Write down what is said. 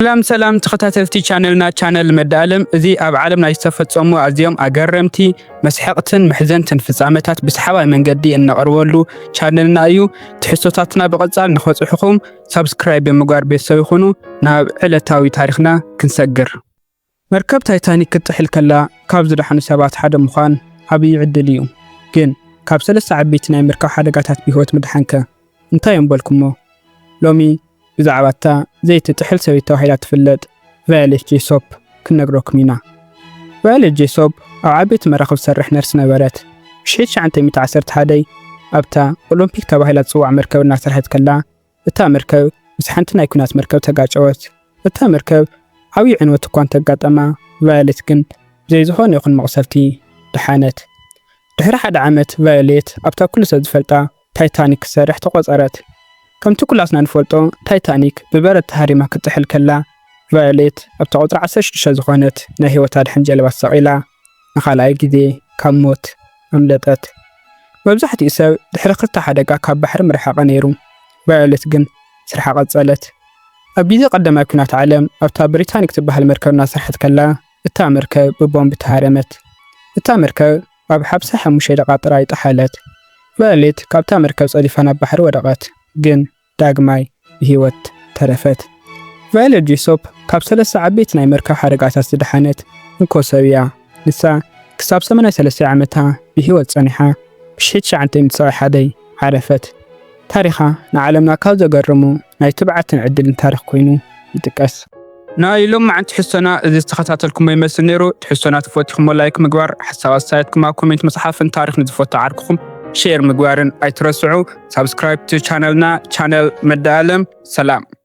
ሰላም ሰላም ተኸታተልቲ ቻነልና ቻነል መዳኣለም እዚ ኣብ ዓለም ናይ ዝተፈጸሙ ኣዝዮም ኣገረምቲ መስሐቕትን መሕዘንትን ፍጻመታት ብሰሓባይ መንገዲ እነቕርበሉ ቻነልና እዩ። ትሕዝቶታትና ብቐጻል ንኸጽሑኹም ሳብስክራይብ ብምግባር ቤተሰብ ይኹኑ። ናብ ዕለታዊ ታሪኽና ክንሰግር መርከብ ታይታኒክ ክትጥሕል ከላ ካብ ዝደሓኑ ሰባት ሓደ ምዃን ዓብዪ ዕድል እዩ። ግን ካብ ሰለስተ ዓበይቲ ናይ መርከብ ሓደጋታት ብህይወት ምድሓንከ እንታይ እዮም በልኩሞ? ሎሚ ብዛዕባ እታ ዘይትጥሕል ሰበይቲ ተባሂላ እትፍለጥ ቫዮሌት ጄሶፕ ክንነግረኩም ኢና። ቫዮሌት ጄሶፕ ኣብ ዓበይቲ መራኽብ ትሰርሕ ነርስ ነበረት። ብ1911 ኣብታ ኦሎምፒክ ተባሂላ እትጽዋዕ መርከብ እናሰርሐት ከላ እታ መርከብ ምስ ሓንቲ ናይ ኲናት መርከብ ተጋጨወት። እታ መርከብ ዓብዪ ዕንወት እኳ እንተ ኣጋጠማ፣ ቫዮሌት ግን ብዘይ ዝዀነ ይኹን መቕሰፍቲ ደሓነት። ድሕሪ ሓደ ዓመት ቫዮሌት ኣብታ ኵሉ ሰብ ዝፈልጣ ታይታኒክ ክትሰርሕ ተቖጸረት። ከምቲ ኵላትና ንፈልጦ ታይታኒክ ብበረድ ተሃሪማ ክትጥሕል ከላ፣ ቫዮሌት ኣብታ ቍጽሪ ዓሰርተ ሽዱሽተ ዝዀነት ናይ ህይወት ኣድሕን ጀልባ ተሰቒላ ንኻልኣይ ግዜ ካብ ሞት ኣምለጠት። መብዛሕትኡ ሰብ ድሕሪ ክልተ ሓደጋ ካብ ባሕሪ ምረሓቐ ነይሩ፣ ቫዮለት ግን ስርሓ ቀጸለት። ኣብ ግዜ ቀዳማይ ኲናት ዓለም ኣብታ ብሪታኒክ ትበሃል መርከብ እናሰርሐት ከላ እታ መርከብ ብቦምብ ተሃረመት። እታ መርከብ ኣብ ሓምሳ ሓሙሽተ ደቓ ጥራይ ጠሓለት። ቫዮሌት ካብታ መርከብ ጸዲፋ ናብ ባሕሪ ወደቐት፣ ግን ዳግማይ ብህይወት ተረፈት። ቫዮለት ጄሶፕ ካብ ሰለስተ ዓበይቲ ናይ መርከብ ሓደጋታት ዝደሓነት እንኮ ሰብ እያ። ንሳ ክሳብ ሰማንያ ሰለስተ ዓመታ ብህይወት ጸኒሓ ብሽሕት ትሽዓተ ሚእቲ ሰብዓይ ሓደይ ዓረፈት። ታሪኻ ንዓለምና ካብ ዘገርሙ ናይ ትብዓትን ዕድልን ታሪኽ ኮይኑ ይጥቀስ። ናይ ሎማዓንቲ ሕሶና እዚ ዝተኸታተልኩሞ ይመስል ነይሩ ትሕሶና ተፈቲኹሞ ላይክ ምግባር ሓሳብ ኣስተያየትኩም ኣብ ኮሜንት ምፅሓፍን ታሪኽ ንዝፈቱ ዓርክኹም ሼር ምግባርን ኣይትረስዑ ሳብስክራይብ ቻነልና ቻነል መዳ ኣለም ሰላም